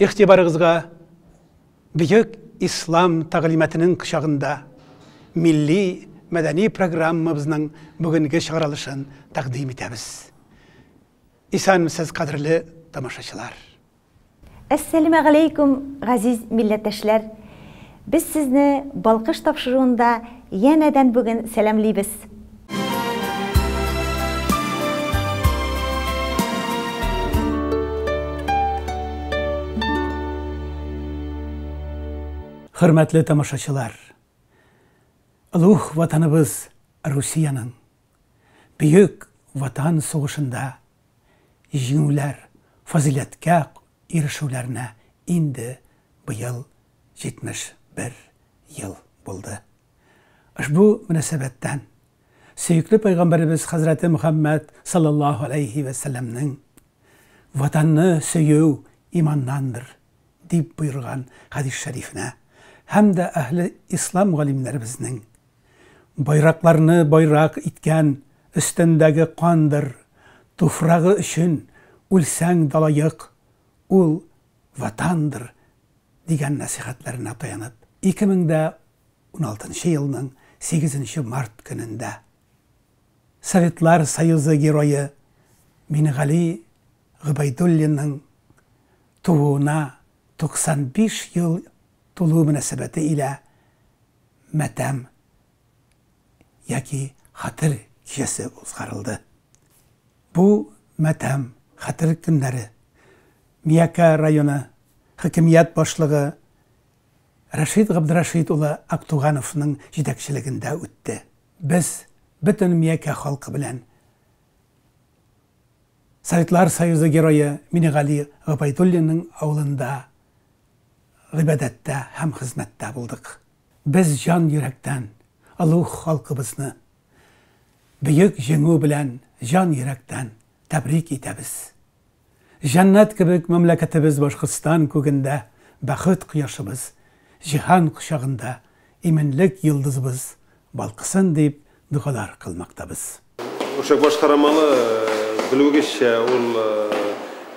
Игътибарыгызга Бөек Ислам тәгълиматының кочагында милли мәдәни программабызның бүгенге чыгарылышын тәкъдим итәбез. Исәнмесез кадерле тамашачылар. Әссәләмәгаләйкүм, газиз милләттәшләр! Без сезне Балкыш тапшыруында янәдән бүген сәламлибез! Хөрмәтле тамашачылар! Олуг Ватаныбыз Русиянең Бөек Ватан сугышында җиңүләр, фазыйләткә ирешүләренә инде быел 71 ел булды. Ошбу мөнәсәбәттән сөекле Пәйгамбәребез хәзрәте Мөхәммәд салләллаһу галәйһи вә сәлләмнең Ватанны сөю иманнандыр дип боерган хәдис шәрифенә һәм дә әһле ислам галимнәребезнең Байракларны байрак иткән Өстендәге кандыр Туфрагы өчен үлсәң далаек, Ул Ватандыр, дигән нәсыйхәтләренә таянып, 2016 елның 8 март көнендә Советлар Союзы Герое Минегали Гобәйдуллинның тууына 95 ел тулуы мөнәсәбәте илә матәм яки хәтер кичәсе узгарылды. Бу матәм, хәтер көннәре Миякә районы хакимият башлыгы Рәшит Габдрәшит улы Актугановның җитәкчелегендә үтте. Без бөтен Миякә халкы белән Советлар Союзы Герое Минегали Гобәйдуллинның авылында гыйбадәттә һәм хезмәттә булдык. Без җан йөрәктән олуг халкыбызны Бөек Җиңү белән җан йөрәктән тәбрик итәбез. Җәннәт кебек мәмләкәтебез Башкортстан күгендә бәхет кояшыбыз, җиһан кочагында иминлек йолдызыбыз балкысын дип догалар кылмактабыз. Үршәк баш карамалы, белүегезчә, ул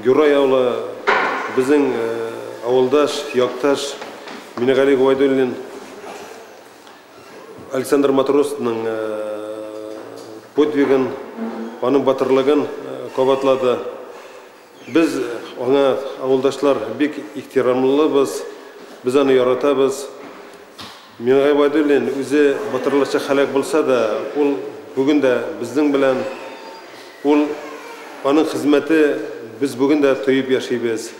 Гюрра яулы, безнең авылдаш, якташ Минегали Гобәйдуллин, Александр Матросның подвигын, аның батырлыгын кабатлады. Без аңа, авылдашлар, бик ихтирамлыбыз, без аны яратабыз. Миңа Гыйбадуллин үзе батырларча һәлак булса да, ул бүген дә безнең белән, ул, аның хезмәте без бүген дә тоеп яшибез.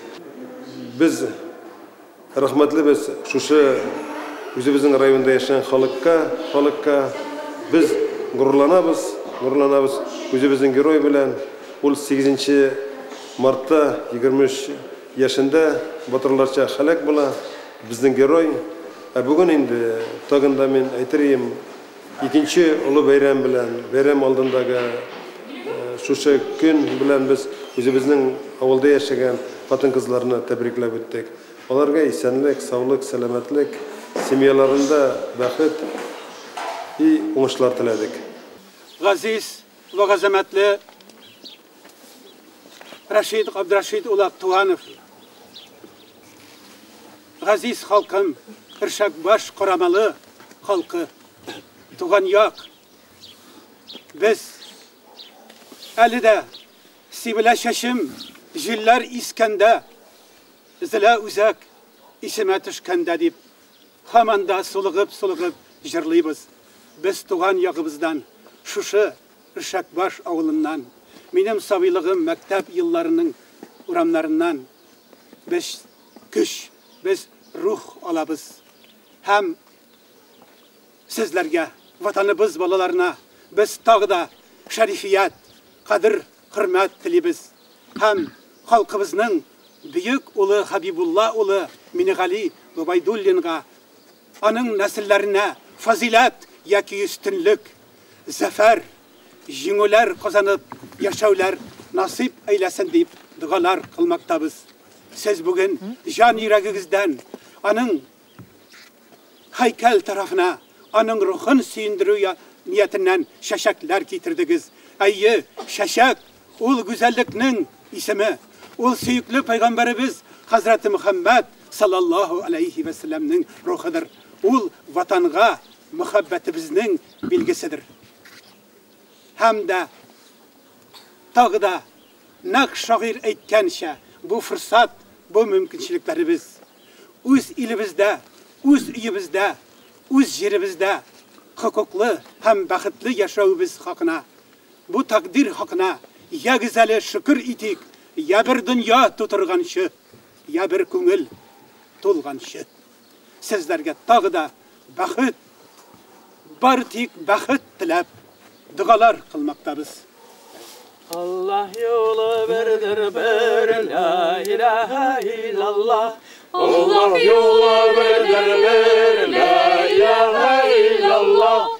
Без рәхмәтлебез шушы үзебезнең районда яшәгән халыкка, халыкка. Без горурланабыз, горурланабыз үзебезнең герой белән. Ул сигезенче мартта, егерме өч. Яшендә батырларча һәлак була безнең герой. Ә бүген инде, тагын да мин әйтер ием, икенче олы бәйрәм белән, бәйрәм алдындагы шушы көн белән без үзебезнең авылда яшәгән хатын-кызларны тәбрикләп үттек. Аларга исәнлек, саулык, сәламәтлек, семьяларында бәхет и уңышлар теләдек. Газиз вә газәмәтле Рашид Габдрашид улы Туганов. Газиз халкым, Иршак баш корамалы халкы. Туган як. Без әле дә сибелә чәчем, җилләр искәндә, зилә үзәк исемә төшкәндә дип, һаман да сулыгып-сулыгып җырлыйбыз. Без туган ягыбыздан шушы Өршәкбаш авылыннан, минем сабыйлыгым, мәктәп елларының урамнарыннан без көч, без рух алабыз һәм сезләргә, Ватаныбыз балаларына без тагы да шәрифият, кадер-хөрмәт телибез һәм халкыбызның бөек улы Хәбибулла улы Минегали Гобәйдуллинга, Аның нәселләренә фазыйләт яки өстенлек, зәфәр, җиңүләр казанып яшәүләр насыйп әйләсен дип догалар кылмактабыз. Сез бүген җан йөрәгегездән аның һәйкәл тарафына, аның рухын сөендерү ниятеннән чәчәкләр китердегез. Әйе, чәчәк Ул гүзәллекнең исеме, ул сөекле пәйгамбәребез хәзрәте Мөхәммәд салләллаһу аләйһи вә сәлләмнең рухыдыр, ул Ватанга мөхәббәтебезнең билгеседер. Һәм дә тагы да нәкъ шагыйрь әйткәнчә, бу форсат, бу мөмкинчелекләребез. Үз илебездә, үз өебездә, үз җиребездә хокуклы һәм бәхетле яшәвебез хакына Бу тәкъдир хакына ягез әле шөкер итик, я бер дөнья тутырганчы, я бер күңел тулганчы. Сезләргә тагы да бәхет, бары тик бәхет теләп, догалар кылмактабыз. Аллаһ юлы бердер бер, ла илаһа иллаллаһ. Аллаһ юлы бердер бер, ла илаһа иллаллаһ.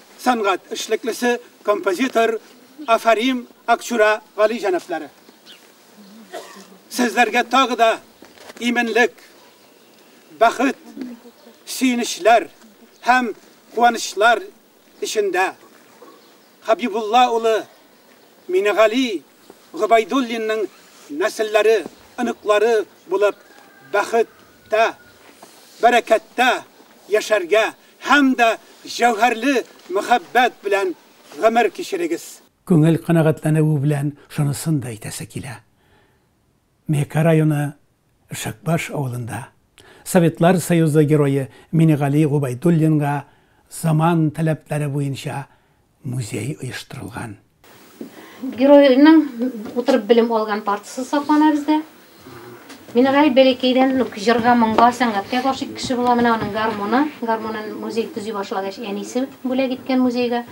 сәнгать эшлеклесе, композитор Афарим Акчура Гали җәнаплары. Сезләргә тагы да именлек, бәхет, сөенечләр һәм куанычлар эчендә Хабибулла улы Минегали Гобайдуллинның нәселләре, оныклары булып бәхеттә, бәрәкәттә яшәргә Һәм дә җәүһәрле мәхәббәт белән гомер кичерегез. Күңел канәгатьләнүе белән шунысын да әйтәсе килә, Меэка районы Ишәкбаш авылында Советлар Союзы Герое Минегали Гобәйдуллинга заман таләпләре буенча музее оештырылган. Геройның утырып белем алган партасы саклана бездә. Минераль бәләкәйдән үк җырга, моңга, сәнгатькә гашыйк кеше була. Менә аның гармоны. Гармонын музей төзи башлагач, әнисе бүләк иткән музейга.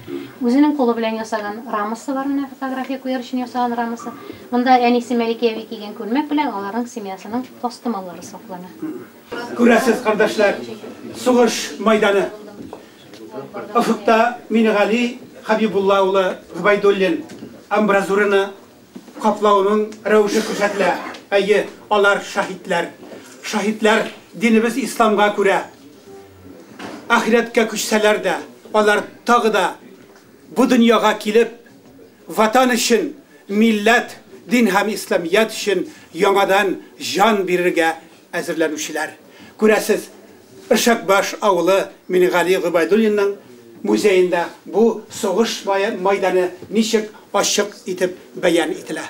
Үзенең кулы белән ясаган рамасы бар, менә фотография куяр өчен ясаган рамасы. Монда әнисе Мәликә әби кигән күлмәк белән аларның семьясының тастымаллары саклана. Күрәсез, кардәшләр, сугыш мәйданы. Офыкта Минегали Хәбибулла улы Гобәйдуллин амбразураны каплауның рәвеше күрсәтелә. Әйе, алар шаһитләр. Шаһитләр динебез исламга күрә. Ахирәткә күчсәләр дә, алар тагы да бу дөньяга килеп, ватан өчен, милләт, дин һәм исламият өчен яңадан җан бирергә әзерләнүчеләр. Күрәсез, Өршәкбаш авылы Мингали Гобәйдуллинның музеенда бу сугыш майданы ничек ачык итеп бәян ителә.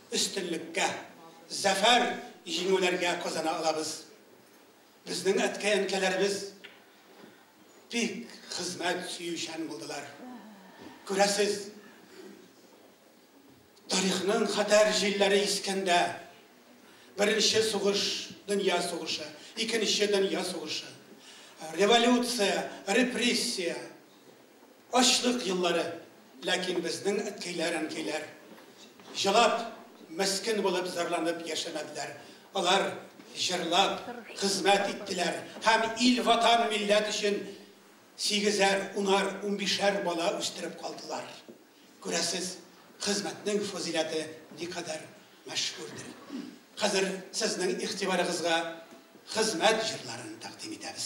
өстенлеккә, зәфәр, җиңүләргә казана алабыз. Безнең әткәй-әнкәләребез бик хезмәт сөючән булдылар. Күрәсез, тарихның хәтәр җилләре искәндә, Беренче сугыш, дөнья сугышы, Икенче дөнья сугышы, революция, репрессия, Ачлык еллары, ләкин безнең әткәйләр, әнкәйләр җылап, мескен булып зарланып яшәмәделәр. Алар җырлап хезмәт иттеләр һәм ил, ватан, милләт өчен сигезәр, унар, унбишәр бала үстереп калдылар. Күрәсез, хезмәтнең фазыйләте никадәр мәшһүрдер. Хәзер сезнең игътибарыгызга хезмәт җырларын тәкъдим итәбез.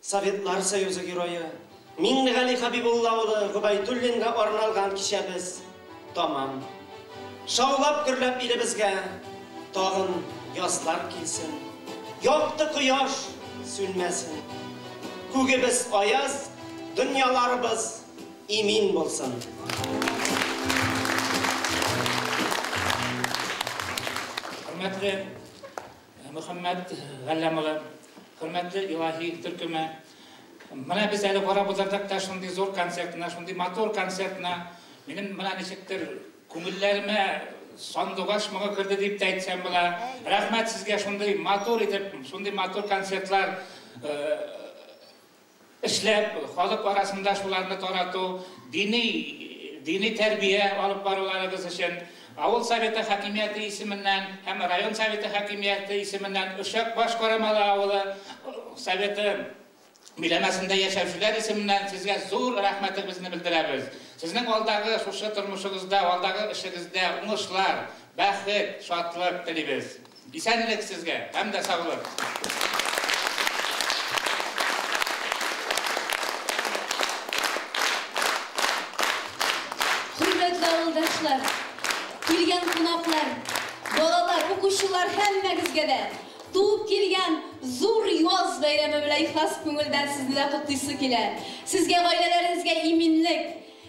Советлар Союзы Герое Миңнегали Хәбибулла улы Гобәйдуллинга арналган кичәбез тәмам. Шаулап-гөрләп илебезгә тагын язлар килсен, якты кояш сүнмәсен, күгебез аяз, дөньяларыбыз имин булсын! Хөрмәтле! Мөхәммәт Галләм улы, хөрмәтле Илаһи төркеме, менә без әле карап утырдык та шундый зур концертны, шундый матур концертны, минем менә ничектер күңелләремә сандугач моңы керде дип тә әйтсәм була. Рәхмәт сезгә шундый матур итеп, шундый матур концертлар э, эшләп, халык арасында шуларны тарату, дини дини тәрбия алып баруларыгыз өчен авыл Советы хакимияте исеменнән һәм район Советы хакимияте исеменнән Очак баш Карамалы авылы Советы биләмәсендә яшәүчеләр исеменнән сезгә зур рәхмәтебезне белдерәбез. Сезнең алдагы шушы тормышыгызда, алдагы эшегездә уңышлар, бәхет, шатлык телибез. Исәнлек сезгә һәм дә саулык! Хөрмәтле авылдашлар, килгән кунаклар, балалар, укучылар һәммәгезгә дә туып килгән зур яз бәйрәме белән ихлас күңелдән сезне дә котлыйсы килә. Сезгә, гаиләләрегезгә иминлек,